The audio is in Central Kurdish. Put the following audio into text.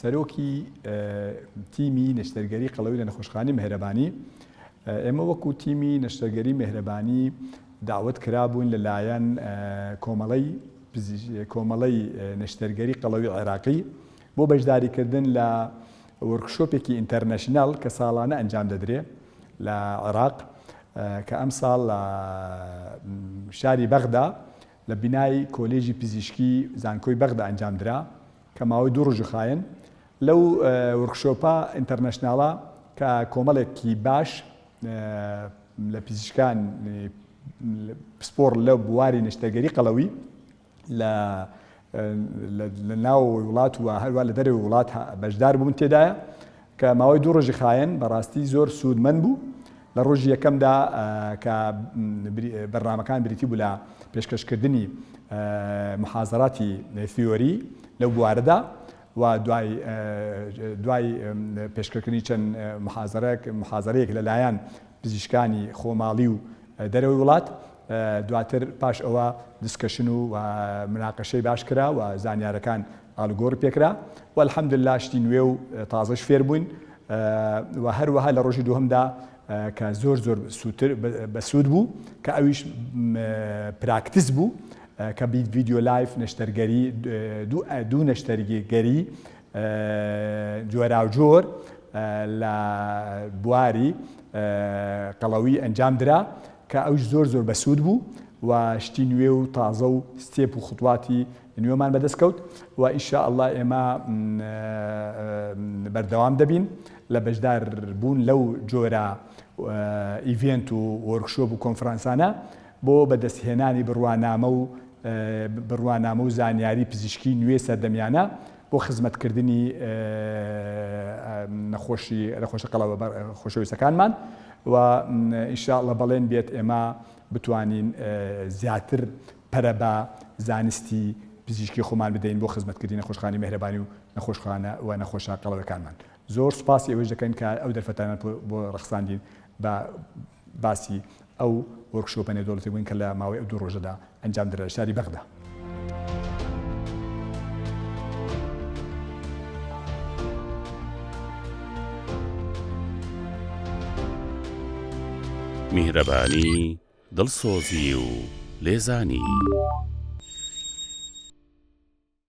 سەرۆکی تیمی نەشتەرگەری قەڵەوی لە نەخۆشخانەی مێهرەبانی، ئێمە وەکو تیمی نەشتەرگەری مێهرەبانی داوەت کرابووین لە لایەن کۆمەڵەی کۆمەڵەی نەشتەرگەری قەڵەوی عێراقی بۆ بەشداری کردن لە وۆرکشۆپێکی ئینتەرنەشناڵ کە ساڵانە ئەنجام دەدرێ لە عێراق کە ئەم ساڵ لە شاری بەغدا لە بینای کۆلێژی پزیشکی زانکۆی بەغدا ئەنجام درا کە ماوەی دوو ڕۆژی خایەن لەو ورکشۆپە ئینتەرنەشناڵە کە کۆمەڵێکی باش لە پیزیشکان پسپۆڕ لە بواری نەشتەگەری قەڵەوی لە لە ناوەوەی وڵات و هەروە لە دەرەوەی وڵات بەشدار بوون تێدایە کە ماوەی دوو ڕۆژی خایەن بەڕاستی زۆر سوودمەند بوو، لە ڕۆژی یەکەمدا کە بەرنامەکان بریتی بوو لە پێشکەشکردنی محازەراتی ثیۆری لەو بوارەدا و دوای دوای پێشکەکردنی چەند محازەرەک محازەرەیەک لەلایەن پزیشکانی خۆماڵی و دەرەوەی وڵات دواتر پاش ئەوە دیسکەشن و مناقەشەی باش کرا و زانیارەکان ئالگۆر پێکرا و الحمدللە شتی نوێ و تازەش فێر بووین و هەروەها لە ڕۆژی دووهەمدا کە زۆر زۆر سووتر بەسوود بوو کە ئەویش پراکتس بوو کە بیت ڤیددیو لایف نەشتەرگەری دوو نەشتەرگەری جۆراوجۆر لە بواری قەڵەوی ئەنجام درا کە ئەوش زۆر زۆر بەسوود بوو و شتی نوێ و تازە و ستێپ و خوتواتی نوێمان بەدەست کەوت و ان شاء اللە ئێمە بەردەوام دەبین لە بەشدار بوون لەو جۆرە ئیڤێنت و وۆرکشۆپ و کۆنفرانسانە بۆ بەدەست هێنانی بڕوانامە و بڕوانامە و زانیاری پزیشکی نوێ سەردەمیانە بۆ خزمەتکردنی نەخۆشی نەخۆشە قەڵەوە خۆشەویستەکانمان و ان شاء اللە بەڵێن بێت ئێمە بتوانین زیاتر پەرە بە زانستی پزیشکی خۆمان بدەین بۆ خزمەتکردنی نەخۆشخانەی مێهرەبانی و نەخۆشخانە و نەخۆشە قەڵەوەکانمان. زۆر سوپاسی ئەوەیش دەکەین کە ئەو دەرفەتانەت بۆ ڕەخساندین بە باسی ئەو وۆرکشۆپە نێودەوڵەتیە بووین کە لە ماوەی ئەو دوو ڕۆژەدا ئەنجام درا لە شاری بەغدا. میهرەبانی دڵسۆزی و لێزانی.